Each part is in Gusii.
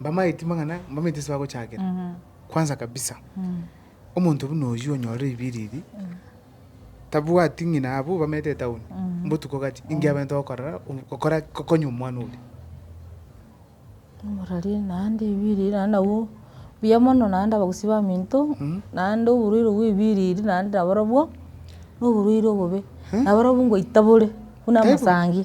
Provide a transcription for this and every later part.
Mbamaeti mang'ana, mbamaeti ase bagochakera. Kwanza kabisa, omonto buna oyio onyore ribiri eri, tabwati ng'ina abwo bamanyete etaoni, mbotuko gacha, inki abete gokorora, obo- gokora gokonya omwana oria. Omorori naende ribiri eri naende nabwo, buya mono naende abagusii baminto, naende oborwaire bwa ribiri eri naende nabarobwo, na oborwaire obobe, nabarobwo ngoita bore, buna Taibo. amasangi.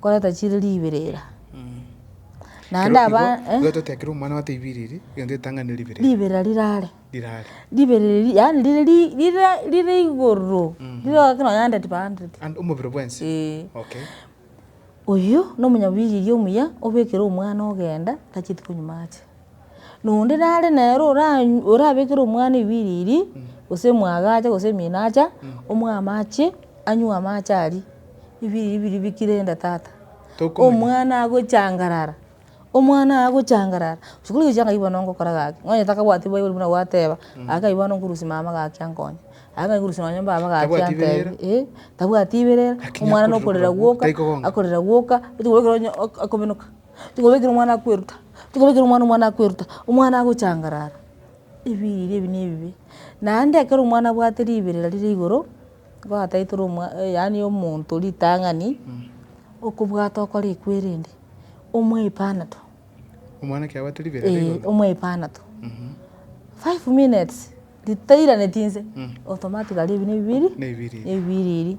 Koreta chire ribirira, naende aba, eh. Igo igo totiga ekero omwana ote ibiriri, egento etanganire ribiriri. Ribirira rirare. Rirare. Ribiriri ri- yaani rire ri rire rire igoro, rire gaki nonye hundred by hundred. And omobere bwensi. Eeh. Okay. Oyio, nomonyabibiri omuya, obekire omwana ogenda, tacheti konywa amache. Nonde nare nere oranyw orabekere omwana ebiriri, gose omwaga acha gose omino acha, omoe amache, anywe amache aria, ebiriri biria bikire enda tata. Omwana agochangarara, omwana oye agochangarara, sikuli gochia ng'ai bono ngokora gaki, nonye takabwati baibori buna gwateba, gaki ng'ai bono nkorusia mama gaki ankonye, gaki ng'ai nkorusia nonye baba gaki Tabwati antebi iberera. eh, tabwati iberera, Lakini omwana akorire nokorera korwa gwoka, taiko gokora. akorera gwoka, ochi korwa ekero onye ok- akobenuka. Tikobekerwa omwana akweruta, tikobekerwa omwana omwana akweruta, omwana agochangarara, ebiiri ebi ne ebibe. Naende ekero omwana abwate riberera rire igoro, nigo ataeterwe omwa yaani omonto ritang'ani, okobwata okore ekwo erende, omoe epanato. Omwana ekero abwate riberera rire igoro? Eeh, omoe epanato. Five minutes, ritairanetie inse, otomatiga aria ebi ne ebibiiri, ne ebibiiri ebi.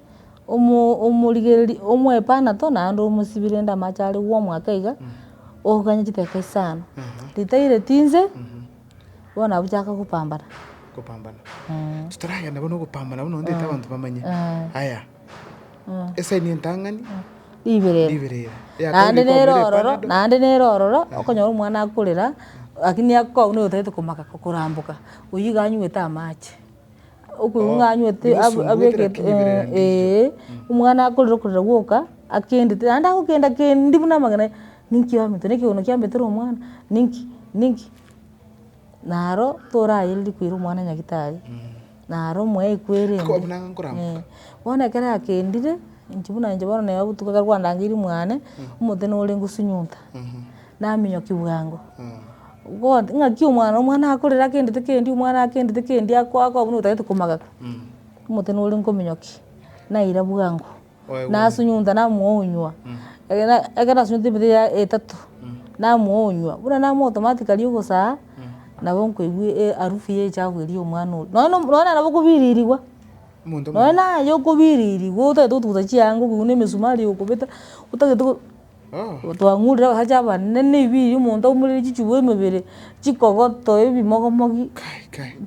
omo- omorigereri omwepanato naende omosibi rende amache are gwa omwaka iga, oganye chitaka isano, ritai ritinse, bono abwo chiaka gopambana. Gopambana. Eeh. Titoragenda bono gopambana bono ntete abanto bamanye. Eeh. Aya, esaini entang'ani, Ribirere. ribirere. Eyakabere Naende nere kwabwera ororo, epanado. naende nere ororo, okonyora omwana akorera, lakini akokwau nigo otagete komaka koramboka, oyio iga anywete amache. Okoigwa ng'anywote omwana akorire okorira gwoka, akendete naende agokenda kendi buna amang'ana aye, ninki oametwe na ekegono kiametere omwana, ninki ninki. Naro torayereri koira omwana nyagetari, naro omoeyi kwere ende. Bono ekero akendire, inche buna inche bono neba botuko ekero kwandangeire mwane, omonto nore ngosunyuta, naminyokigwa ango. God, ng'aki omwana, omwana akorere agendete kendi, omwana agendete kendi akoa akoa buna otagete komagaka, omote nore nkominyoki, naira bwango, nasunyuta namoonywa, ekero na ekero nasunyuta emete ya etato, namoonywa, buna namo automatically kari ogosaa, nabo nkoigwa e- earufu ya echafu eria ya omwana oria, nonya no nonya nabo okobiririwa, nonya naye okobiririwa otagete gotuguta chianga okigwa na emesumari okobeta, otagete go. Twang'urire abasacha abanene na ebiiri, omonto aumorere chichugo emebere, chikogoto, ebimogomogi,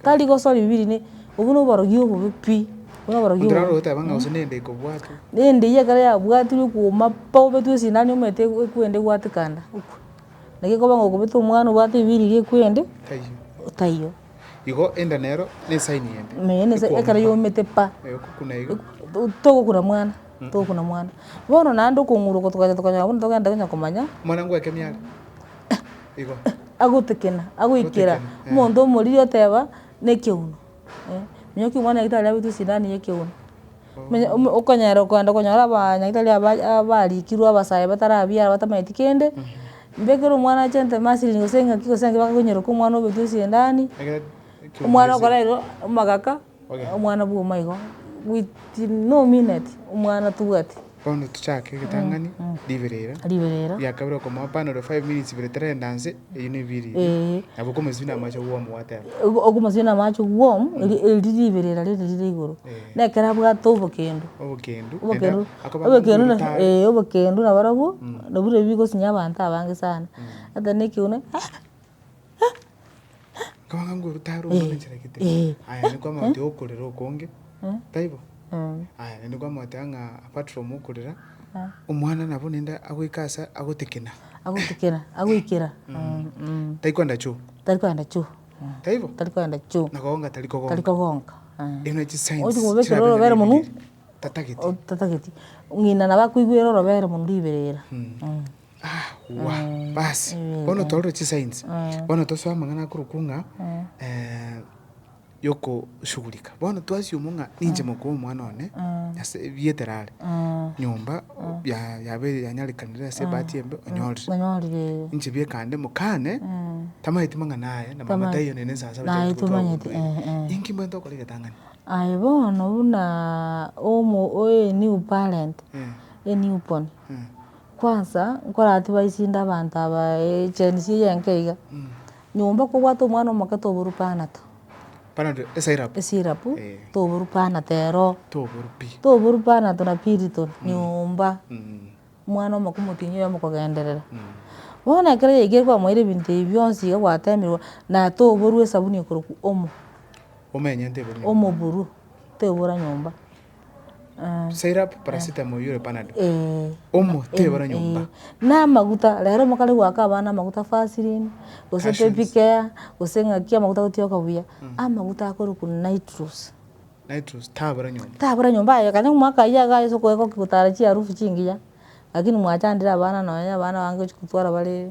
tari gosora ebiiri ne, obwo na oborogi obobe pi, obwo na oborogi obobe. Onde naro ogoteba ng'a gose nende ekobwatwa. Nende eyio ekero yabwatirwe ekuoma pa obetwe esindano omanyete eku- ekwende egwate kanda, ekwe. Naki ekoba ng'a okobete omwana obwate ebiiri eria ekwende, taiyo. Igo enda nero nesaini ende. Naye nese Ekwomete. ekero yaumete pa, Eh, okokuna iga. to- togokuna mwana, togokuna mwana. Bono naende okong'urokwa tokacha tokanyora buna togenda onye komanya, Mwana ngwake miare. Igo. agotekena, agoikera, Agotekena, eh. omonto omoriri oteba, nekegunu. Eh, nyoki omwana oito aria abetwe esindani ya ekegunu. okonyara okoenda okonyora aba nyagetari aba abarikirwe abasae batarabiarwa batamaeti kende, mbe ekero omwana ache entema ase eriogi gose eng'aki gose engaki bakonyeroka omwana obekwa esendani, omwana okoraerwa omogaka, omwana bwoma igo, within no minute omwana tobwati. Bono tochake egetang'ani, riberera, riberera, ria kabere okomoa pan ore five minutes ibere terenda nse, eyio ne ebiiri, ee, nabo okomosibia na amache warm gwateba. Ogo okomosibia na amache warm, eri eri riberera riri rire igoro, na ekero abwate obokendo, Obokendu, naende obokendu, akoba ng'a obokendu na omoritari. ee obokendu nabarobwo, nabirobio bigosinyia abanto abange sana, oteba na ekegunia. Nkabanga nguru tari Eh, omonechera gete. eh. Aya niko amagote okorera okonge. Taibo? Aya naende kwamoteba ng'a apart from okorera, omwana nabo naende agoika ase agotekena. agotekera agoikera Tari kwenda choo. tari kwenda choo Taibo? tari kwenda choo Na kogonga tari tari kogonga. kogonka Erio na chisigns Ochi kobekera chirabera na orobere munwe. ebireria. Tatagete. otatageti ng'ina nabo akoigwera orobere munwe riberera Basi, bono torore chisainsi, bono tosoe amang'ana akorokwa ng'a yokoshugurika. Bono twasiomwa ng'a ninche mokoo omwana one ase ebiete ere are, nyomba ya- yabeire yanyarekanire ase ebahati embe onyorire. onyorire eh. Inche biekande mokane, tamaeti mang'ana aye na mama taiyo nere ensansaba Naye chiaye tomanyeti, eh, eh. Inki mbwate okore egetang'ani? Aye bono buna omo- o- a new parent, a new born, Kwansa nkorati baisinde abanto aba Gen Z eye enke iga, nyomba kobwate omwana omoke toboru panado. Panado esyrup. Esyrup toboru panado ero. Toboru pi. Toboru panado na piriton nyomba. Omwana omoke omotinyia oyo mokogenderera. Bono ekero yaikire kwamoire ebinto ebi bionsi iga gwatemirwe na toboru esabuni ekorokwa omo. Omo enyente eburwe nyomba. Omo eburwe tebura nyomba. Syrup, paracetamol oyure panadol. Eeh. Omo tebara nyomba. Na amaguta, rero omokare goaka abana amaguta vaseline, gose Passions. baby care, gose ng'aki amaguta agotioka buya, amaguta akorokwa nitrous. Nitrous tabora nyomba. Tabora nyomba aye kare omwaka aye iga ase okoegwa gotara chiarufu chingiya, lakini mwachandire abana nonya abana abange gochi gotwara bare.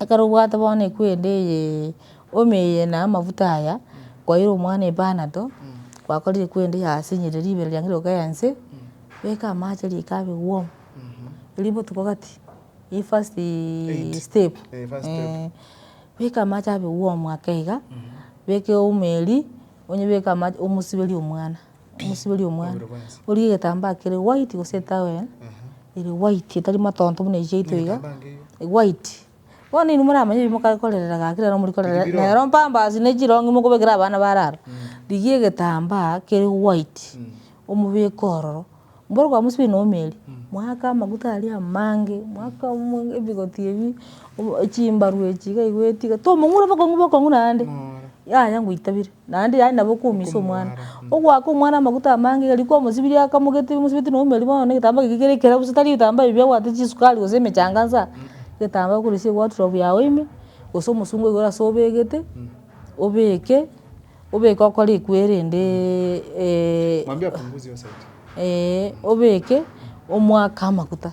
Ekero obwate bono ekwende eyee omi eye na amafuta aya, kwaira omwana epanato, kwakorire kwende yasinyire ribero riange rioka ya inse, beka amache rika abe warm, erio botuko gati, eye first step eeh, beka amache abe warm ake iga, beka eomo eria, onyebeke amache omosiberie omwana. Mosibori omwana, orie egetambaa kere white gose etowel ere white etari matonto buna echi yaito iga, white, bono inwe moramanye ebi mokakorera iga kera nabo morikorera iga, nero pampers na echirongi mokobekera abana bare aba, rigia egetambaa kere white, omobeke ororo. Mboro kwa Musa oinomeri, mwaka amaguta aria amange, mwaka ebigoti ebi, chimbaru echi iga igo etiga, tomong'ura bokong'u bokong'u naende, yaya ngoita bire, naende yaani nabo okoumisa omwana. Ogoaka omwana amaguta amange iga riko omosibirie akamogete omosibeti na omeri bono na egetambaa kegio kere ekerabu gose tari ebitambaa ebi biagoata chisukari gose emechanga nsa, egetambaa okorusia ewadrobe yago ime, gose omosungo oyo ase obegete, obeke. Obeke okore ekwere ende ee obeke omoake amaguta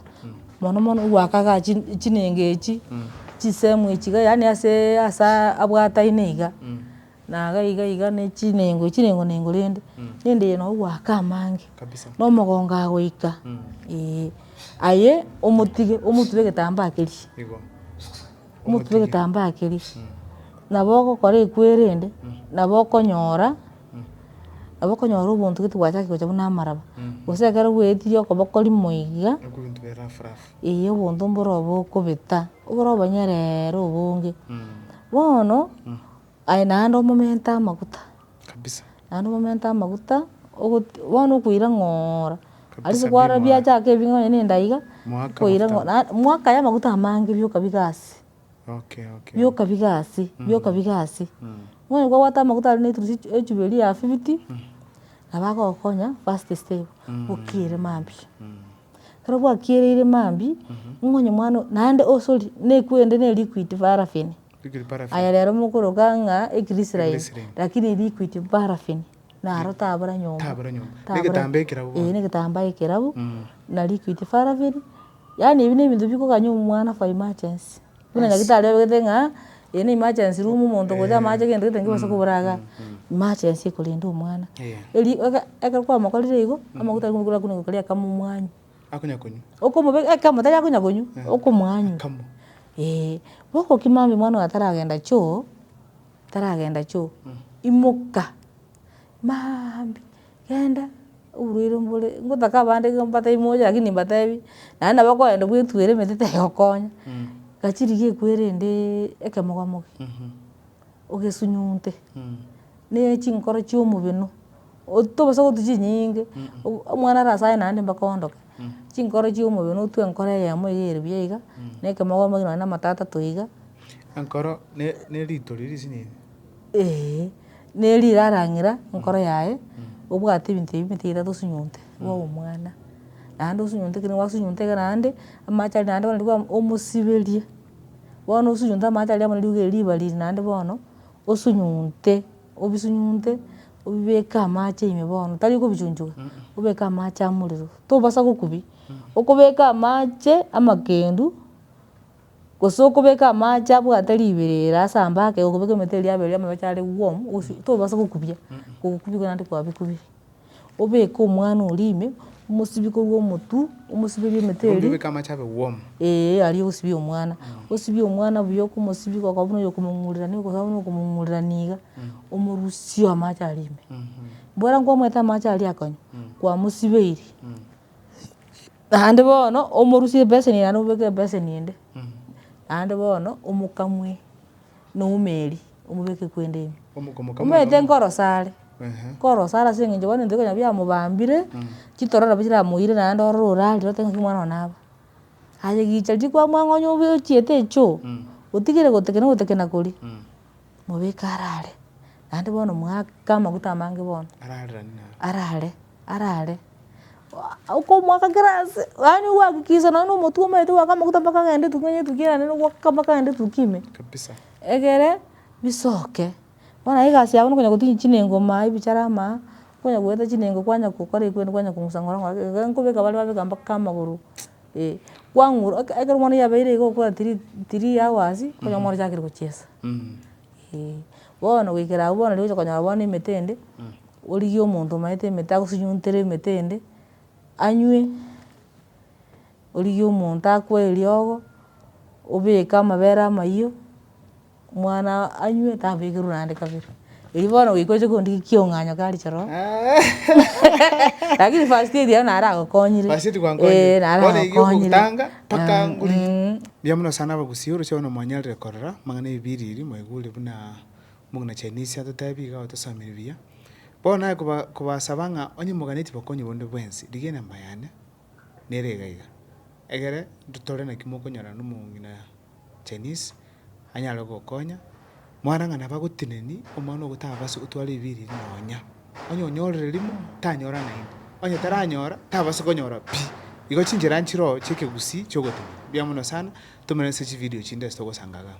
mono mono gwakaga chi- chinenga echi, chisehemu echi iga yaani asee asaa abwataine iga, na iga iga iga ne chinengo chinengo nengo rende, rende eye nabo gwaka amange, na omogongo agoika ee, aye omotige omotube egetambaa keria. omotwe egetambaa keria, nabo ogokora ekwere ende, nabo okonyora, nabo okonyora obonto gete gwachakire gocha buna amaraba, gose ekero bwaetirie okoboko rimo iga, eeh obonto mboro obo okobeta, oboro obonyerere obonge, bono. Aye naende omomente amaguta, kabisa naende omomente amaguta, ogotu bono okoira ng'oora, kabisa aritoo kwara bimwae biachaka ebi nonya na endaiga, Mwaka okoira amaguta ng'o na mwaka aya amaguta amange bioka biga ase, Okay, okay, bioka okay. biga ase, bioka biga ase, bono kwabwata amaguta aria na eturusi ech- echuberi ya fifty, nabo agogokonya first step, okiere mambia. Ekero gwakiereire mambia, ng'o onye mwana oyio, naende o sorry, na ekwende ne liquid paraffin, Aya rero mokoroka ng'a ekrisraeli, rakini liquid paraffin naro tabora nyomba, tabora ee negetambaa ekerabu, na liquid paraffin, yaani ebi nebinto bikoganya omwana for emergency. Buna daktari obwate ng'a eye ne emergency room omonto ogocha amache gento gete ngebaso kobora igaa, emergency ekorenda omwana. Eri eke ekero kwamokorire igo, amaguta aria kwarikwa gokoria akamomuanyi. akonyakonywa. Okomobe ekemo tari akonya konywa okomwanywa. Akamo. Eeh, bokokima mambia omwana oyo ataragenda choo, ataragenda choo, imoka, maambia genda oborwaire mbore, ngotake abande iga mbatebi mocha lakini nimbatebi, naende nabo okoyenda bwetwere emete tegokonya, gachi rigiya ekwerendee ekemoga moga. ogesunyunte, ne chinkoro chia omobino, otobasa gotu chinyinge, omwana arase aye naende mpaka oondoke, chinkoro chia omobino otwe enkoro eyemo eywo ere buya iga, na ekemogombe nonye na amato atato iga. Enkoro ne ne rito riria risinyinge. Eeh, na erio rarang'ira enkoro yaye, obwate ebinto ebio ebinto ebitato osunyunte, igo obe omwana, naende osunyunte ekero gwasunyunte iga naende, amache aria naende bono riria bwa omosiberie. Bono osunyunte amache aria buna riuga eri riba riri naende bono, osunyunte, obisunyunte, obibeke amache ime bono, tari okobichunchuga, obeke amache amorero, tobasa gokubia, okobeka amache amakendu, gose okobeka amache abwate riberera ase ambake, okobeka emete eria yabere yamabecha are warm, ogosu tobasa gokubia, ogokubia igo naende kwabikubire. obeke omwana oria ime, omosibie korwa omotwe, omosibie ime emetwe eria. Ebundi obeke amache abe warm. Eeh aria osibie omwana, osibie omwana buya okomosibia goka buna okomong'urerania okosi buna okomong'urerania iga, omorusie amache aria ime. Bwera nkomanyete amache aria akonywa, kwamosibeirie, naende bono omorusie ebeseni naende obeke ebeseni ende, naende bono omokamue na omeri. omobeke kwende ime. Omokomoka mono. Omanyete nkorosa are, nkorosa are ase eng'encho bono ebinto bire konya biamobambire, chitororo nabo chiramoire naende ororo orarire otebe ng'aki omwana one aba. Aye gicha riria kwamwang'onya obe ochiete echoo, otigire gotekena ogotekena koria, mobeke arare, naende bono moaka amaguta amange bono. Arareranie naye. Arare. arare okomoaka kera aase, yaani okoakikisha nonye na omotwe omanyete goaka amaguta mpaka agende etukia onye etukia erande nogoaka mpaka agende etukia ime. Kabisa. Egere bisoke, bono aye egasi yabo nokonya gotinya chinengo maa ebichara maa, okonya goeta chinengo kwanya gokora ekwende kwanya kong'usa ng'ora ng'ora iga iga nkobeka bare babeka mpaka amagoro eh, kwang'ura oka ekero bono yabeire iga okobua tiri tiri hours, okonyora bono ochakire gochiesa, eeh. Bono goikera abwo bono riria ogocha konyora bono emete ende, Origie omonto omaete emete agosinyuntere emete ende, anywe, origie omonto akwe eriogo, obeke amabere amayio, omwana anywe tabekerwa naende kabere, erio bono goika oche kondigia kiong'anyo kare choroo, lakini first aid aye nare agokonyire, First aid gwankonyire, nare bono erio agokonyire, ogotanga mpaka ngurigia. Mbuya mono sana abagusii, oroche bono mwanyarire korora amang'ana ya ebibiria eria, mwaigure buna Omogina Chinese atotebie iga otosomire buya. Bono naye koba kobasaba ng'a onye moganetie bokonyi bonde bwensi, rigia enamba yane nere iga iga, egere totore naki mokonyora nomong'ina Chinese, anyare gokonya, mwanang'ana bagoteneni, omwana ogotabase gotwara ebiiri ebi nonya. Onye onyorire rimo, tanyora naende, onye taranyora, tabase konyora pi. Igo chinchera nchiroo chiekegusii chiogotenena. Mbuya mono sana, Tomerane ase chividio chinde ase togosanga igaa.